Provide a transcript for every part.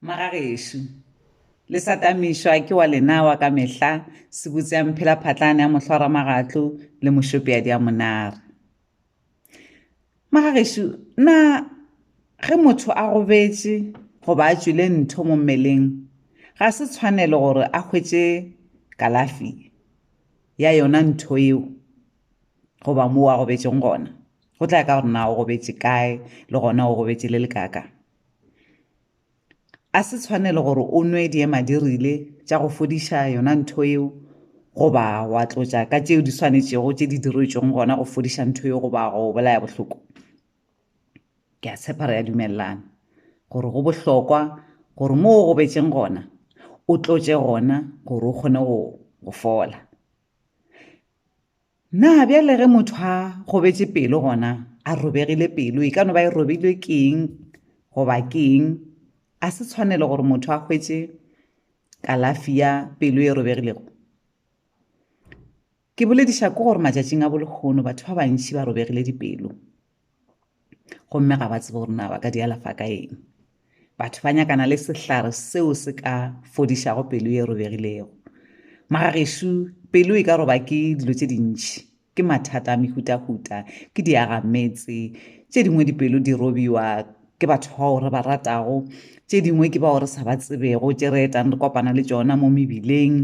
Magagešo, le sa tamišwa ke wa lena wa ka mehla, sebutse ya mphelaphatlane ya mohlwaramagatlo le mošopeadi ya monare. Magagešo, na ge motho a gobetše goba a tšwile ntho mo mmeleng, ga se tshwanelo gore a hwetše kalafi ya yona ntho eo goba moo a gobetšeng gona? go tla ya ka gore na o gobetše kae le gona o gobetše le lekaka a se tshwanelo gore o nwe diema dirile tša go fodiša yona ntho yeo goba wa tlotša ka tšeo di swanetšego tše di diretšweng gona go fodiša ntho yeo goba go bolaya bohloko ke a tshepa re ya dumelelana gore go bohlokwa gore mo o gobetšeng gona o tlotše gona gore o kgone go fola Na bjale ge motho a gobetše pelo gona a robegile pelo e ka no ba e robilwe keng goba keng a se tshwanelo gore motho a hwetše kalafi ya pelo e robegilego ke bolediša ko gore matšatšing a bolehono batho ba bantši ba robegile dipelo gomme ga ba tsebe gore na ba ka di alafa ka eng batho ba nyakana le sehlare seo se ka fodišago pelo e robegilego magagešu pelo e ka roba ke dilo tše dintši ke mathata a mehutahuta ke diagametse tše dingwe dipelo di robiwa ke batho bao re ba ratago tše dingwe ke bao re sa ba tsebego tše re etang re kopana le tšona mo mebileng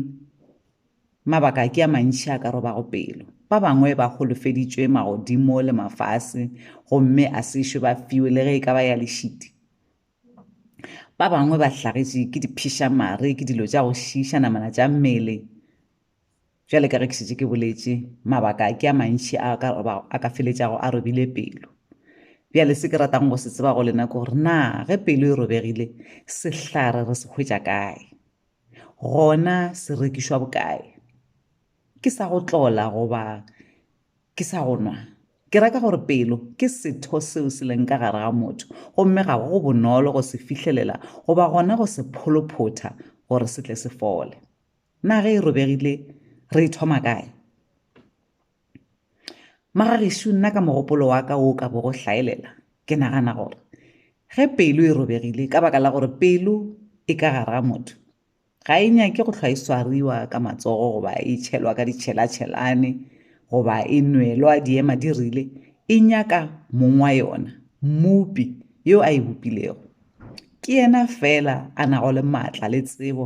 Mabaka ke a mantši a ka robago pelo. Ba bangwe ba holofeditšwe magodimo le mafase gomme a se šwe ba fiwe le ge e ka ba ya lešiti. Ba bangwe ba hlagetše ke diphiša-mare, ke dilo tša go šiiša namana tša mmele. Bjale ka ge ke šetše ke boletše, mabaka ke a mantši a ka, a ka feletšago a robile pelo. Bjale se ke ratang go se tseba go lena ke gore na ge pelo e robegile, sehlare re se hwetša kae? Gona se rekišwa bokae? Ke sa go tlola goba ke sa go nwa? Ke reka gore pelo ke setho seo se leng ka gare ga motho, gomme ga go bonolo go se fihlelela goba gona go se pholophotha gore se tle se fole. Na ge e robegile re e thoma kae? Mara gešu nna ka mogopolo wa ka o ka bo go hlaelela, ke nagana gore ge pelo e robegile ka baka la gore pelo e ka gara motho, ga e nyake go hlwa e swariwa ka matsogo goba e tšhelwa ka ditšhelatšhelane goba e nwelwa diema di rile, e nyaka mong wa yona, mmopi, yo a e bopilego. Ke yena feela a nago le maatla le tsebo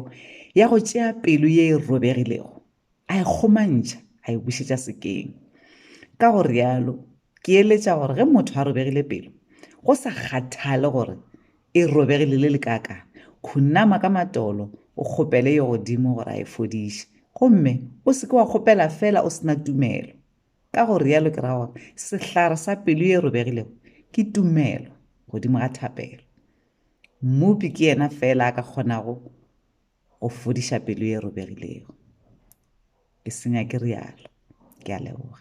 ya go tšea pelo ye e robegilego a e kgomantšha a e bušetša sekeng ka go realo ke eletša gore ge motho a robegile pelo go sa kgathale gore e robegile le lekaka khunama ka matolo o kgopele yo godimo gore a e fodiše gomme o seke wa kgopela fela o sena tumelo ka go realo ke ra gore sehlare sa pelo e robegilego ke tumelo godimo ga thapelo mmupi ke yena fela a ka kgonago go fodiša pelo e robegilego. Ke se nyake rialo. Ke a leboga.